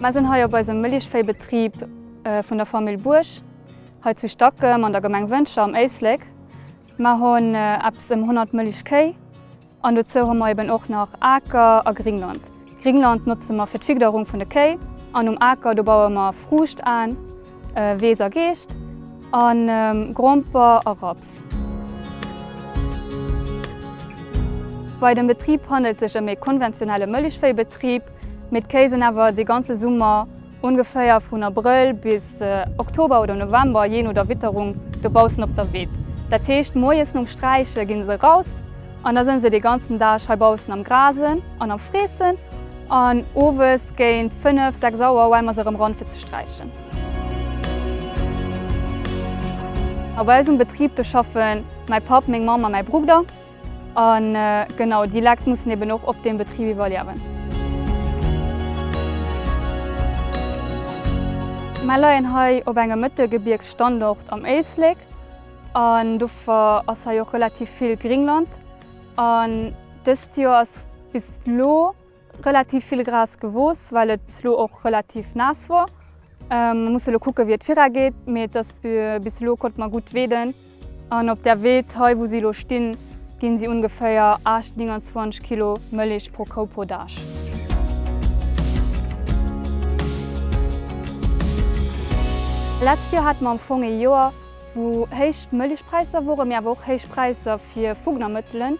Mer sinn hei op eisem Mëllechvéibetrib vun der Famill Buerg hei zu Stackem an der Gemeng Wëntger am Éislek. Mer hunn eppes ëm 100 Mëllechkéi. An dozou hu mer eben och nach Aker a Gringland. Gringland notze mer fir d'Figderung vun de Kéi an um Aker do baue mer Fruucht an, Weess a Geescht a Gromper a Raps. Bei dem Betrib handelt sech ëm ee konventionelle Mëllechvéibetrib, mee d'Kéi sinn awer de ganze Summer Ongeféier vun Abrëll bis Oktober oder November, jee no der Witterung, dobaussen op der Widd. Dat heescht, moies nom Sträiche ginn se eraus an da sënn se dee ganzen Dag heibaussen am Grasen an am Freessen an owes géint 5, 6 Auer huele mer se erëm ran fir ze sträichen. A bei eis um Betrib do schaffen mäi Papp, meng Mamm a mäi Brugder. A genau déi Lekt mussen eben och op deem Betrib iwwerliewen. Mer leien hei op engem Mëttelgebiergsstandort am Éislek an dofir ass hei och relativ vill Gringland an dëst Joer ass bis elo, Relativ vill Gras gewooss, well et bis elo och relativ naass wor. Mer musse elo kucke wéi et vira geet, mee et ass bis elo konnte mer gutt weeden. An op där Weed hei wou si elo stinn, ginn si ungeféier 8, 29 Kilo Mëllech pro Kou pro Dag. Letzt Joer hate mer am Fong ee Joer wou héich Mëllechpräisser woren, mee awer och héich Präisser fir Fugnamëttelen.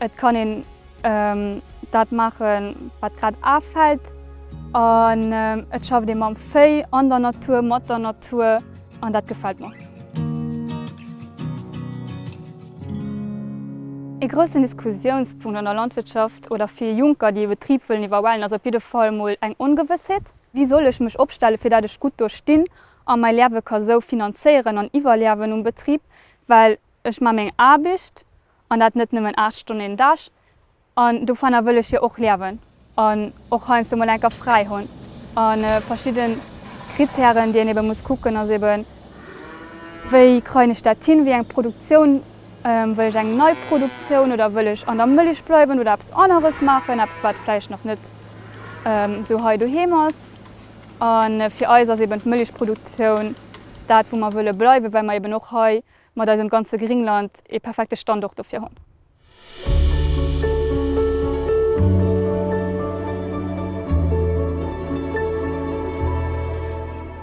Et kann een dat maachen, wat grad afält an et schafft ee mam Véi, an der Natur, mat der Natur an dat gefält mer. Ee groussen Diskussiounspunkt an der Landwirtschaft oder fir Junker, déi e Betrib wëllen iwwerwellen, ass op jidde Fall mol eng Ongewëssheet. Wéi soll ech mech opstellen, fir dat ech gutt do stinn a mäi Leawe ka sou finanzéieren an iwwerliawen um Betrib, well ech maache meng Aarbicht an dat net nëmmen 8 Stonnen een Dag, an dofanner wëll ech jo och liewen an och heiansdo mol enker fräi hunn. A verschidde Kritären, déi een ebe muss kucken, ass eben, wéi kreien ech dat hin, wéi eng Produktioun, wëll ech eng nei Produktioun oder wëll ech an der Mëlich bleiwen oder eppes aneres maachen, eppes wat vläicht nach net esou hei doheem ass. A fir eis ass eben d'Mëlichproduktioun dat wou mer wëlle bleiwen, well mer eben och hei mat eisem ganze Gringland ee perfekte Standort dofir hunn.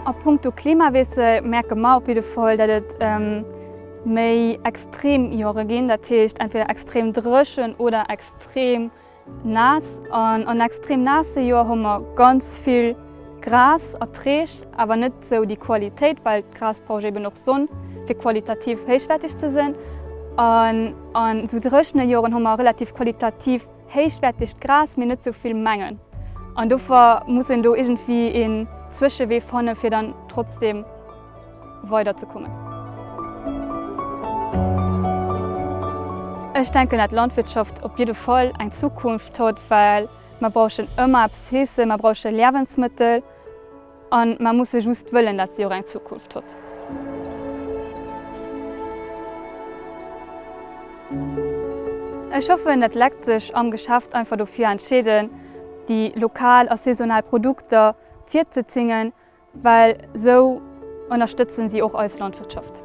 A punkto Klimawiessel märke mer op jidde Fall, datt et méi extrem Joere ginn, dat heescht entweder extrem dréchen oder extrem. Naass an an extrem naasse Joer hu mer ganz vill Gras erträg, awer net sou déi Qualitéit, well d'Gras brauch eben och Sonn fir qualitativ héichwäerteg ze sinn. An an sou dréchene Joren hu mer relativ qualitativ héichwäertegt Gras, mee net sou vill Mengen. An dofir muss een do iergendwéi een Zwëschewee fanne fir dann trotzdem. weider ze kommen. Ech denken dat Landwirtschaft op jidde Fall eng Zukunft huet, well mer brauchen ëmmer eppes zeessen, mer brauche Liewensmëttel a mer musse just wëllen, dat si och eng Zukunft huet. Ech hoffen, dat Lekt sech am Geschäft einfach dofir entscheeden, déi lokal a saisonal Produkter virzezingen, Well sou ënnerstëtzen si och eis Landwirtschaft.